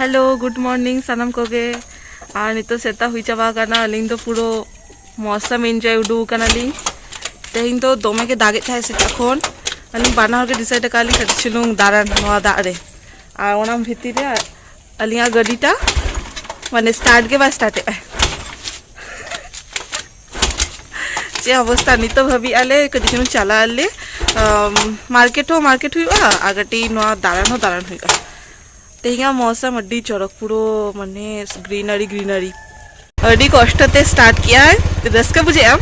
Hello good morning ᱥᱟᱱᱟᱢ ᱠᱚᱜᱮ ᱟᱨ ᱱᱤᱛᱚᱜ ᱥᱮᱛᱟᱜ ᱦᱩᱭ ᱪᱟᱵᱟ ᱟᱠᱟᱱᱟ ᱟᱹᱞᱤᱧ ᱫᱚ ᱯᱩᱨᱟᱹ ᱢᱚᱥᱟᱢ ᱤᱱᱡᱚᱭ ᱩᱰᱩᱠ ᱟᱠᱟᱱᱟᱞᱤᱧ ᱛᱮᱦᱮᱧ ᱫᱚ ᱫᱚᱢᱮ ᱜᱮ ᱫᱟᱜᱮᱫ ᱛᱟᱦᱮᱸᱫ ᱥᱮᱛᱟᱜ ᱠᱷᱚᱱ ᱟᱹᱞᱤᱧ ᱵᱟᱱᱟ ᱦᱚᱲ ᱜᱮ ᱰᱤᱥᱟᱭᱤᱰ ᱟᱠᱟᱫ ᱞᱤᱧ ᱠᱟᱹᱴᱤᱡ ᱪᱩᱞᱩᱝ ᱫᱟᱬᱟᱱ ᱱᱚᱣᱟ ᱫᱟᱜ ᱨᱮ ᱟᱨ ᱚᱱᱟ ᱵᱷᱤᱛᱤᱨ ᱨᱮ ᱟᱹᱞᱤᱧᱟᱜ ᱜᱟᱹᱰᱤᱴᱟ ᱢᱟᱱᱮ ᱥᱴᱟᱨᱴ ᱜᱮ ᱵᱟᱭ ᱥᱴᱟᱨᱴᱮᱜᱼᱟ ᱪᱮᱫ ᱚᱵᱚᱥᱛᱟ ᱱᱤᱛᱚᱜ ᱦᱟᱹᱵᱤᱡ ᱟᱞᱮ ᱠᱟᱹᱴᱤᱡ ᱪᱩᱞᱩᱝ ᱪᱟᱞᱟᱜ ᱟᱞᱮ ᱢᱟᱨᱠᱮᱴ ᱦᱚᱸ ᱢᱟᱨᱠᱮᱴ ᱦᱩᱭᱩᱜᱼᱟ ᱟᱨ ᱠᱟᱹᱴᱤᱡ ᱱᱚᱣᱟ ᱫᱟᱬᱟᱱ ᱦᱚᱸ ᱫᱟᱬᱟᱱ ᱦᱩᱭᱩᱜᱼᱟ ᱛᱮᱦᱮᱧᱟᱜ ᱢᱚᱥᱟᱢ ᱟᱹᱰᱤ ᱪᱚᱨᱚᱠ ᱯᱩᱨᱟᱹ ᱢᱟᱱᱮ ᱜᱨᱤᱱᱟᱨᱤ ᱜᱨᱤᱱᱟᱨᱤ ᱟᱹᱰᱤ ᱠᱚᱥᱴᱚ ᱛᱮ ᱥᱴᱟᱨᱴ ᱠᱮᱜᱼᱟᱭ ᱨᱟᱹᱥᱠᱟᱹ ᱵᱩᱡᱷᱟᱹᱜᱼᱟ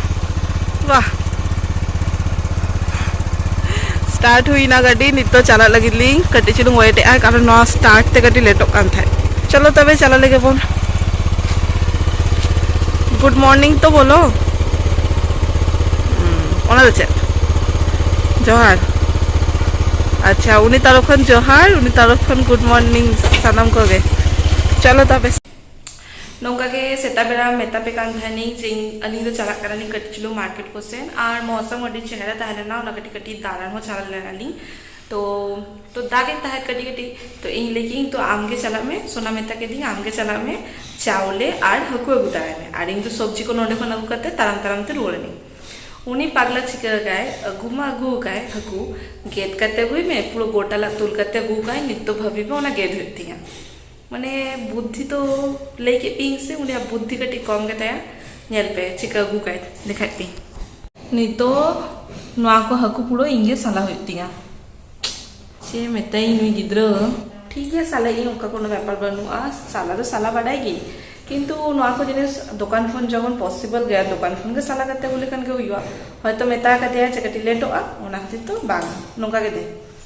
ᱵᱟᱦ ᱥᱴᱟᱨᱴ ᱦᱩᱭᱱᱟ ᱜᱟᱹᱰᱤ ᱱᱤᱛ ᱫᱚ ᱪᱟᱞᱟᱜ ᱞᱟᱹᱜᱤᱫ ᱞᱤᱧ ᱠᱟᱹᱴᱤᱡ ᱪᱩᱞᱩᱝ ᱣᱮᱴ ᱮᱜᱼᱟ ᱠᱟᱨᱚᱱ ᱱᱚᱣᱟ ᱥᱴᱟᱨᱴ ᱛᱮ ᱠᱟᱹᱴᱤᱡ ᱞᱮᱴᱚᱜ ᱠᱟᱱ ᱛᱟᱦᱮᱸᱫ ᱪᱚᱞᱚ ᱛᱚᱵᱮ ᱪᱟᱞᱟᱜ ᱞᱟᱹᱜᱤᱫ ᱵᱚᱱ ᱜᱩᱰ ᱢᱚᱨᱱᱤᱝ ᱛᱚ ᱵᱚᱞᱚ ᱚᱱᱟ ᱫᱚ ᱪᱮᱫ ᱡᱚᱦᱟᱨ ᱟᱪᱪᱷᱟ ᱩᱱᱤ ᱛᱟᱨᱚᱯ ᱠᱷᱚᱱ ᱡᱚᱦᱟᱨ ᱩᱱᱤ ᱛᱟᱨᱚᱯ ᱠᱷᱚᱱ ᱜᱩᱰ ᱢᱚᱨᱱᱤᱝ ᱥᱟᱱᱟᱢ ᱠᱚᱜᱮ ᱪᱚᱞᱚ ᱛᱚᱵᱮ ᱱᱚᱝᱠᱟ ᱜᱮ ᱥᱮᱛᱟᱜ ᱵᱮᱲᱟ ᱢᱮᱛᱟ ᱯᱮ ᱠᱟᱱ ᱛᱟᱦᱮᱱᱤᱧ ᱡᱮ ᱟᱹᱞᱤᱧ ᱫᱚ ᱪᱟᱞᱟᱜ ᱠᱟᱱᱟᱞᱤᱧ ᱠᱟᱹᱴᱤᱡ ᱪᱩᱞᱩᱝ ᱢᱟᱨᱠᱮᱴ ᱠᱚᱥᱮᱱ ᱟᱨ ᱢᱚᱣᱥᱚᱢ ᱟᱹᱰᱤ ᱪᱮᱦᱨᱟ ᱛᱟᱦᱮᱸ ᱞᱮᱱᱟ ᱚᱱᱟ ᱠᱟᱹᱴᱤᱡ ᱠᱟᱹᱴᱤᱡ ᱫᱟᱬᱟᱱ ᱦᱚᱸ ᱪᱟᱞᱟᱣ ᱞᱮᱱᱟᱞᱤᱧ ᱛᱚ ᱛᱚ ᱫᱟᱜᱮᱫ ᱛᱟᱦᱮᱸᱫ ᱠᱟᱹᱴᱤᱡ ᱠᱟᱹᱴᱤᱡ ᱛᱚ ᱤᱧ ᱞᱟᱹᱭ ᱠᱮᱫᱟᱹᱧ ᱛᱚ ᱟᱢᱜᱮ ᱪᱟᱞᱟᱜ ᱢᱮ ᱥᱳᱱᱟ ᱢᱮᱛᱟ ᱠᱮᱫᱮᱧ ᱟᱢᱜᱮ ᱪᱟᱞᱟᱜ ᱢᱮ ᱪᱟᱣᱞᱮ ᱟᱨ ᱦᱟᱹᱠᱩ ᱟᱹᱜᱩ ᱛᱟᱨᱟᱭ ᱢᱮ ᱟᱨ ᱤᱧ ᱫᱚ ᱥᱚᱵᱽᱡᱤ ᱠᱚ ᱱᱚᱰᱮ ᱠᱷᱚᱱ ᱟᱹᱜᱩ ᱠᱟᱛᱮ ᱛᱟᱲᱟᱢ ᱛᱟᱲᱟᱢ ᱛᱮ ᱨᱩᱣᱟᱹᱲ ᱮᱱᱟᱹᱧ ᱩᱱᱤ ᱯᱟᱜᱽᱞᱟ ᱪᱤᱠᱟᱹ ᱟᱠᱟᱫᱟᱭ ᱟᱹᱜᱩ ᱢᱟ ᱟᱹᱜᱩ ᱟᱠᱟᱫᱟᱭ ᱦᱟᱹᱠᱩ ᱜᱮᱫ ᱠᱟᱛᱮ ᱟᱹᱜᱩᱭ ᱢᱮ ᱯᱩᱨᱟᱹ ᱜᱚᱴᱟ ᱞᱟᱫ ᱛᱩᱞ ᱠᱟᱛᱮ ᱟᱹᱜᱩ ᱟᱠᱟᱫᱟᱭ ᱱᱤᱛ ᱫᱚ ᱵᱷᱟᱹᱵᱤ ᱢᱮ ᱚᱱᱟ ᱜᱮᱫ ᱦᱩᱭᱩᱜ ᱛᱤᱧᱟᱹ ᱢᱟᱱᱮ ᱵᱩᱫᱽᱫᱷᱤ ᱫᱚ ᱞᱟᱹᱭ ᱠᱮᱫ ᱯᱮᱭᱟᱹᱧ ᱥᱮ ᱩᱱᱤᱭᱟᱜ ᱵᱩᱫᱽᱫᱷᱤ ᱠᱟᱹᱴᱤᱡ ᱠᱚᱢ ᱜᱮᱛᱟᱭᱟ ᱧᱮᱞ ᱯᱮ ᱪᱤᱠᱟᱹ ᱟᱹᱜᱩ ᱠᱟᱭ ᱞᱮᱠᱷᱟᱡ ᱯᱮ ᱱᱤᱛᱚᱜ ᱱᱚᱣᱟ ᱠᱚ ᱦᱟᱹᱠᱩ ᱯᱩᱲᱟᱹ ᱤᱧ ᱜᱮ ᱥᱟᱞᱟ ᱦᱩᱭᱩᱜ ᱛᱤᱧᱟ ᱪᱮᱫ ᱢᱮᱛᱟᱭᱤᱧ ᱱᱩᱭ ᱜᱤᱫᱽᱨᱟᱹ ᱴᱷᱤᱠ ᱜᱮᱭᱟ ᱥᱟᱞᱟ ᱤᱧ ᱚᱱᱠᱟ ᱠᱳᱱᱳ ᱵᱮᱯᱟᱨ ᱵᱟᱹᱱᱩᱜᱼᱟ ᱥᱟᱞᱟ ᱫᱚ ᱥᱟᱞᱟ ᱵᱟᱰᱟᱭ ᱜᱮ ᱠᱤᱱᱛᱩ ᱱᱚᱣᱟ ᱠᱚ ᱡᱤᱱᱤᱥ ᱫᱚᱠᱟᱱ ᱠᱷᱚᱱ ᱡᱚᱠᱷᱚᱱ ᱯᱚᱥᱤᱵᱚᱞ ᱜᱮᱭᱟ ᱫᱚᱠᱟᱱ ᱠᱷᱚᱱ ᱜᱮ ᱥᱟᱞᱟ ᱠᱟᱛᱮ ᱟᱹᱜᱩ ᱞᱮᱠᱷᱟᱱ ᱜᱮ ᱦᱩᱭᱩᱜᱼᱟ ᱦᱚᱭᱛᱚ ᱢᱮᱛᱟ ᱠᱟᱫᱮᱭᱟ ᱡᱮ ᱠᱟᱹᱴᱤᱡ ᱞᱮᱴᱚᱜᱼᱟ ᱚᱱᱟ ᱠᱷᱟᱹᱛᱤᱨ ᱛᱮ ᱵᱟᱝ ᱱᱚᱝᱠᱟ ᱜᱮ ᱫᱮ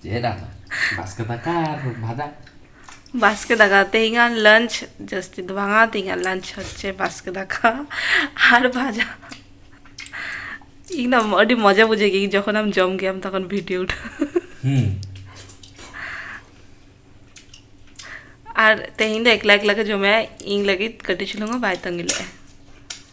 ᱪᱮᱫ ᱟᱫᱚ ᱵᱟᱥᱠᱮ ᱫᱟᱠᱟ ᱟᱨ ᱵᱷᱟᱡᱟ ᱵᱟᱥᱠᱮ ᱫᱟᱠᱟ ᱛᱮᱦᱮᱧᱟᱜ ᱞᱟᱧᱪ ᱡᱟᱹᱥᱛᱤ ᱫᱚ ᱵᱟᱝᱟ ᱛᱮᱦᱮᱧᱟᱜ ᱞᱟᱧᱪ ᱦᱚᱪᱪᱷᱮ ᱵᱟᱥᱠᱮ ᱫᱟᱠᱟ ᱟᱨ ᱵᱷᱟᱡᱟ ᱤᱧ ᱫᱚ ᱟᱹᱰᱤ ᱢᱚᱡᱟ ᱵᱩᱡᱷᱟᱹᱜ ᱜᱮ ᱡᱚᱠᱷᱚᱱ ᱟᱢ ᱡᱚᱢ ᱜᱮᱭᱟᱢ ᱛᱚᱠᱷᱚᱱ ᱵᱷᱤᱰᱤᱭᱳ ᱩᱴᱷᱟᱹᱣ ᱦᱩᱸ ᱟᱨ ᱛᱮᱦᱮᱧ ᱫᱚ ᱮᱠᱞᱟ ᱮᱠᱞᱟ ᱜᱮ ᱡᱚᱢᱮᱜᱼᱟ ᱤᱧ ᱞᱟᱹᱜᱤᱫ ᱠᱟᱹᱴᱤᱡ ᱪᱩᱞᱩᱝ ᱦᱚᱸ ᱵᱟᱭ ᱛᱟᱺᱜᱤ ᱞᱮᱜᱼᱟ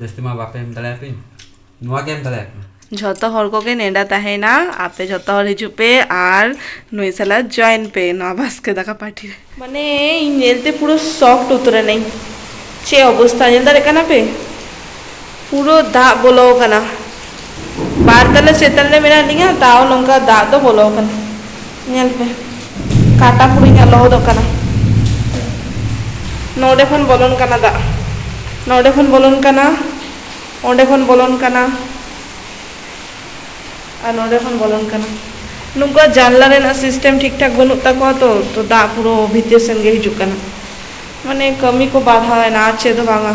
ᱡᱟᱹᱥᱛᱤ ᱢᱟ ᱵᱟᱯᱮ ᱮᱢ ᱫᱟᱲᱮᱭᱟ ᱯᱮ ᱱᱚᱣᱟ ᱜᱮ ᱮᱢ ᱫᱟᱲᱮᱭᱟ ᱯᱮ ᱡᱷᱚᱛᱚ ᱦᱚᱲ ᱠᱚᱜᱮ ᱱᱮᱰᱟ ᱛᱟᱦᱮᱱᱟ ᱟᱯᱮ ᱡᱷᱚᱛᱚ ᱦᱚᱲ ᱦᱤᱡᱩᱜ ᱯᱮ ᱟᱨ ᱱᱩᱭ ᱥᱟᱞᱟᱜ ᱡᱚᱭᱮᱱ ᱯᱮ ᱱᱚᱣᱟ ᱵᱟᱥᱠᱮ ᱫᱟᱠᱟ ᱯᱟᱨᱴᱤ ᱨᱮ ᱢᱟᱱᱮ ᱤᱧ ᱧᱮᱞᱛᱮ ᱯᱩᱨᱟᱹ ᱥᱚᱠᱴ ᱩᱛᱟᱹᱨᱮᱱᱟᱹᱧ ᱪᱮᱫ ᱚᱵᱚᱥᱛᱟ ᱧᱮᱞ ᱫᱟᱲᱮᱭᱟᱜ ᱠᱟᱱᱟ ᱯᱮ ᱯᱩᱨᱟᱹ ᱫᱟᱜ ᱵᱚᱞᱚ ᱟᱠᱟᱱᱟ ᱵᱟᱨ ᱛᱟᱞᱟ ᱪᱮᱛᱟᱱ ᱨᱮ ᱢᱮᱱᱟᱜ ᱞᱤᱧᱟ ᱛᱟᱣ ᱱᱚᱝᱠᱟ ᱫᱟᱜ ᱫᱚ ᱵᱚᱞᱚ ᱟᱠᱟᱱᱟ ᱧᱮᱞ ᱯᱮ ᱠᱟᱴᱟ ᱯᱩᱨᱟᱹ ᱤᱧᱟᱹᱜ ᱞᱚᱦᱚᱫᱚᱜ ᱠᱟᱱᱟ ᱱᱚᱰᱮ ᱠᱷᱚᱱ ᱵᱚᱞᱚᱱ ᱠᱟᱱᱟ ᱫᱟᱜ ᱱᱚᱰᱮ ᱠᱷᱚᱱ ᱵᱚᱞᱚᱱ ᱠᱟᱱᱟ ᱚᱸᱰᱮ ᱠᱷᱚᱱ ᱵᱚᱞᱚᱱ ᱠᱟᱱᱟ ᱟᱨ ᱱᱚᱰᱮ ᱠᱷᱚᱱ ᱵᱚᱞᱚᱱ ᱠᱟᱱᱟ ᱱᱩᱠᱩ ᱡᱟᱱᱞᱟ ᱨᱮᱱᱟᱜ ᱥᱤᱥᱴᱮᱢ ᱴᱷᱤᱠ ᱴᱷᱟᱠ ᱵᱟᱹᱱᱩᱜ ᱛᱟᱠᱚᱣᱟ ᱛᱚ ᱛᱚ ᱫᱟᱜ ᱯᱩᱨᱟᱹ ᱵᱷᱤᱛᱤᱨ ᱥᱮᱱ ᱜᱮ ᱦᱤᱡᱩᱜ ᱠᱟᱱᱟ ᱢᱟᱱᱮ ᱠᱟᱹᱢᱤ ᱠᱚ ᱵᱟᱫᱷᱟᱣᱮᱱᱟ ᱟᱨ ᱪᱮᱫ ᱦᱚᱸ ᱵᱟᱝᱟ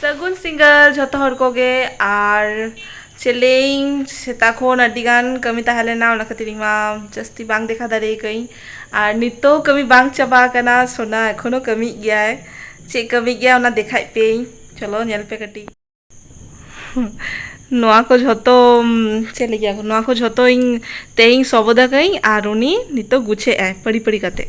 ᱥᱟᱹᱜᱩᱱ ᱥᱤᱸᱜᱟᱹᱲ ᱡᱚᱛᱚ ᱦᱚᱲ ᱠᱚᱜᱮ ᱟᱨ ᱪᱮᱫ ᱞᱟᱹᱭᱟᱹᱧ ᱥᱮᱛᱟᱜ ᱠᱷᱚᱱ ᱟᱹᱰᱤ ᱜᱟᱱ ᱠᱟᱹᱢᱤ ᱛᱟᱦᱮᱸ ᱞᱮᱱᱟ ᱚᱱᱟ ᱠᱷᱟᱹᱛᱤᱨ ᱤᱧ ᱢᱟ ᱡᱟᱹᱥᱛᱤ ᱵᱟᱝ ᱫᱮᱠᱷᱟᱣ ᱫᱟᱲᱮ ᱠᱟᱹᱫᱟᱹᱧ ᱟᱨ ᱱᱤᱛᱚᱜ ᱦᱚᱸ ᱠᱟᱹᱢᱤ ᱵᱟᱝ ᱪᱟᱵᱟ ᱟᱠᱟᱱᱟ ᱥᱳᱱᱟ ᱮᱠᱷᱚᱱᱳ ᱠᱟᱹᱢᱤᱭᱮᱫ ᱜᱮᱭᱟᱭ ᱪᱮᱫ ᱠᱟᱹᱢᱤᱭᱮᱫ ᱜᱮᱭᱟᱭ ᱚᱱᱟ ᱫᱮᱠᱷᱟᱣ ᱯᱮᱭᱟᱹᱧ ᱪᱚᱞᱚ ᱧᱮᱞ ᱯᱮ ᱠᱟᱹᱴᱤᱡ ᱱᱚᱣᱟ ᱠᱚ ᱡᱷᱚᱛᱚ ᱪᱮᱫ ᱞᱟᱹᱭᱟ ᱱᱚᱣᱟ ᱠᱚ ᱡᱷᱚᱛᱚ ᱤᱧ ᱛᱮᱦᱮᱧ ᱥᱚᱵᱚᱫ ᱟᱠᱟᱫᱟᱹᱧ ᱟᱨ ᱩᱱᱤ ᱱᱤᱛᱚᱜ ᱜᱩᱪᱷᱟᱹᱣ ᱮᱫ ᱟᱭ ᱯᱟᱹᱲᱤ ᱯᱟᱹᱲᱤ ᱠᱟᱛᱮᱫ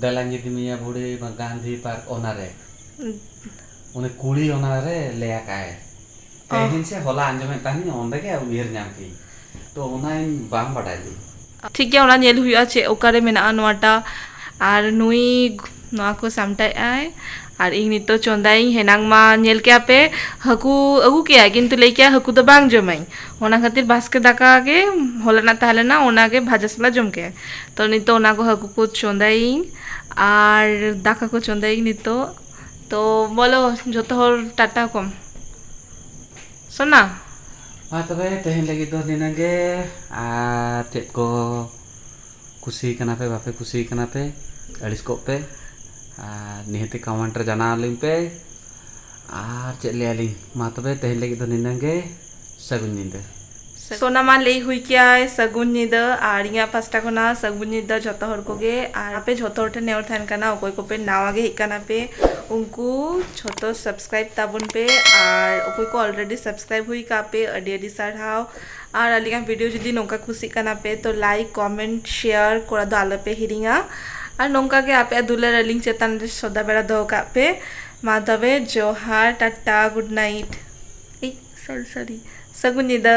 ᱵᱮᱞᱟᱧᱡᱤ ᱫᱤᱢᱤᱭᱟ ᱵᱷᱩᱲᱤ ᱢᱟ ᱜᱟᱱᱫᱷᱤ ᱯᱟᱨᱠ ᱚᱱᱟ ᱨᱮ᱾ ᱩᱱᱤ ᱠᱩᱲᱤ ᱚᱱᱟ ᱨᱮ ᱞᱟᱹᱭ ᱟᱠᱟᱜᱼᱟᱭ᱾ ᱛᱮᱦᱮᱧ ᱥᱮ ᱦᱚᱞᱟ ᱟᱸᱡᱚᱢᱮᱫ ᱛᱟᱦᱮᱱᱤᱧ ᱚᱸᱰᱮ ᱜᱮ ᱩᱭᱦᱟᱹᱨ ᱧᱟᱢ ᱠᱮᱜᱼᱤᱧ᱾ ᱛᱚ ᱚᱱᱟ ᱤᱧ ᱵᱟᱝ ᱵᱟᱰᱟᱭ ᱞᱤᱧ᱾ ᱴᱷᱤᱠ ᱜᱮᱭᱟ ᱚᱱᱟ ᱧᱮᱞ ᱦᱩᱭᱩᱜᱼᱟ ᱪᱮᱫ ᱚᱠᱟ ᱨᱮ ᱢᱮᱱᱟᱜᱼᱟ ᱱᱚᱣᱟ ᱴᱟᱜ ᱟᱨ ᱱᱩᱭ ᱱᱚᱣᱟ ᱠᱚ ᱥᱟᱢᱴᱟᱣᱮᱜᱼᱟᱭ ᱟᱨ ᱤᱧ ᱱᱤᱛᱚᱜ ᱪᱚᱸᱫᱟᱭᱟᱹᱧ ᱦᱮᱱᱟᱝ ᱢᱟ ᱧᱮᱞ ᱠᱮᱜᱼᱟ ᱯᱮ ᱦᱟᱹᱠᱩ ᱟᱹᱜᱩ ᱠᱮᱜᱼᱟᱭ ᱠᱤᱱᱛᱩ ᱞᱟᱹᱭ ᱠᱮᱜᱼᱟᱭ ᱦᱟᱹᱠᱩ ᱫᱚ ᱵᱟᱝ ᱡᱚᱢᱟᱹᱧ ᱚᱱᱟ ᱠᱷᱟᱹᱛᱤᱨ ᱵᱟᱥᱠᱮ ᱫᱟᱠᱟ ᱜᱮ ᱦᱚᱞᱟᱱᱟᱜ ᱛᱟᱦᱮᱸ ᱞᱮᱱᱟ ᱚᱱᱟ ᱜᱮ ᱵᱷᱟᱡᱟ ᱥᱟᱞᱟᱜ ᱡᱚᱢ ᱠᱮᱜᱼᱟᱭ ᱛᱚ ᱱᱤᱛᱚᱜ ᱚᱱᱟ ᱠᱚ ᱦᱟᱹᱠᱩ ᱠᱚ ᱪᱚᱸᱫᱟᱭᱟᱹᱧ ᱟᱨ ᱫᱟᱠᱟ ᱠᱚ ᱪᱚᱸᱫᱟᱭᱟᱹᱧ ᱱᱤᱛᱚᱜ ᱛᱚ ᱵᱚᱞᱚ ᱡᱚᱛᱚ ᱦᱚᱲ ᱴᱟᱴᱟ ᱠᱚᱢ ᱥᱚᱱᱟ ᱢᱟ ᱛᱚᱵᱮ ᱛᱮᱦᱮᱧ ᱞᱟᱹᱜᱤᱫ ᱫᱚ ᱱᱤᱱᱟᱹᱝ ᱜᱮ ᱟᱨ ᱪᱮᱫ ᱠᱚ ᱠᱩᱥᱤ ᱠᱟᱱᱟ ᱯᱮ ᱵᱟᱯᱮ ᱠᱩᱥᱤ ᱠᱟᱱᱟ ᱯᱮ ᱟᱹᱲᱤᱥ ᱠᱚᱜ ᱯᱮ ᱟᱨ ᱱᱤᱦᱟᱹᱛ ᱜᱮ ᱠᱚᱢᱮᱱᱴ ᱨᱮ ᱡᱟᱱᱟᱣ ᱟᱹᱞᱤᱧ ᱯᱮ ᱟᱨ ᱪᱮᱫ ᱞᱟᱹᱭ ᱟᱹᱞᱤᱧ ᱢᱟ ᱛᱚᱵᱮ ᱛᱮᱦᱮᱧ ᱞᱟᱹᱜᱤᱫ ᱫᱚ ᱱᱤᱱᱟᱹᱝ ᱜᱮ ᱥᱟᱹᱜᱩᱱ ᱧᱤᱫᱟᱹ᱾ ᱥᱚᱱᱟ ᱢᱟ ᱞᱟᱹᱭ ᱦᱩᱭ ᱠᱮᱭᱟᱭ ᱥᱟᱹᱜᱩᱱ ᱧᱤᱫᱟᱹ ᱟᱨ ᱤᱧᱟᱜ ᱯᱟᱥᱴᱟ ᱠᱷᱚᱱᱟᱜ ᱥᱟᱹᱜᱩᱱ ᱧᱤᱫᱟᱹ ᱡᱷᱚᱛᱚ ᱦᱚᱲ ᱠᱚᱜᱮ ᱟᱨ ᱟᱯᱮ ᱡᱷᱚᱛᱚ ᱦᱚᱲ ᱴᱷᱮᱱ ᱱᱮᱦᱚᱨ ᱛᱟᱦᱮᱱ ᱠᱟᱱᱟ ᱚᱠᱚᱭ ᱠᱚᱯᱮ ᱱᱟᱣᱟ ᱜᱮ ᱦᱮᱡ ᱠᱟᱱᱟ ᱯᱮ ᱩᱱᱠᱩ ᱡᱷᱚᱛᱚ ᱥᱟᱵᱥᱠᱨᱟᱭᱤᱵ ᱛᱟᱵᱚᱱ ᱯᱮ ᱟᱨ ᱚᱠᱚᱭ ᱠᱚ ᱚᱞᱨᱮᱰᱤ ᱥᱟᱵᱥᱠᱨᱟᱭᱤᱵ ᱦᱩᱭ ᱠᱟᱜ ᱯᱮ ᱟᱹᱰᱤ ᱟᱹᱰᱤ ᱥᱟᱨᱦᱟᱣ᱾ ᱟᱨ ᱟᱹᱞᱤᱧᱟᱜ ᱵᱷᱤᱰᱤᱭᱳ ᱡᱩᱫᱤ ᱱᱚᱝᱠᱟ ᱠᱩᱥᱤᱜ ᱠᱟᱱᱟ ᱯᱮ ᱛᱚ ᱞᱟᱭᱤᱠ ᱠᱚᱢᱮᱱᱴ ᱥᱮᱭᱟᱨ ᱠᱚᱨᱟᱣ ᱫᱚ ᱟᱞᱚ ᱯᱮ ᱦᱤᱲᱤᱧᱟ ᱟᱨ ᱱᱚᱝᱠᱟ ᱜᱮ ᱟᱯᱮᱭᱟᱜ ᱫᱩᱞᱟᱹᱲ ᱟᱹᱞᱤᱧ ᱪᱮᱛᱟᱱ ᱨᱮ ᱥᱚᱫᱟ ᱵᱮᱲᱟ ᱫᱚᱦᱚ ᱠᱟᱜ ᱯᱮ ᱢᱟ ᱛᱚᱵᱮ ᱡᱚᱦᱟᱨ ᱴᱟᱴᱟ ᱜᱩᱰ ᱱᱟᱭᱤᱴ ᱮᱭ ᱥᱚᱨᱤ ᱥᱚᱨᱤ ᱥᱟᱹᱜᱩᱱ ᱧᱤᱫᱟᱹ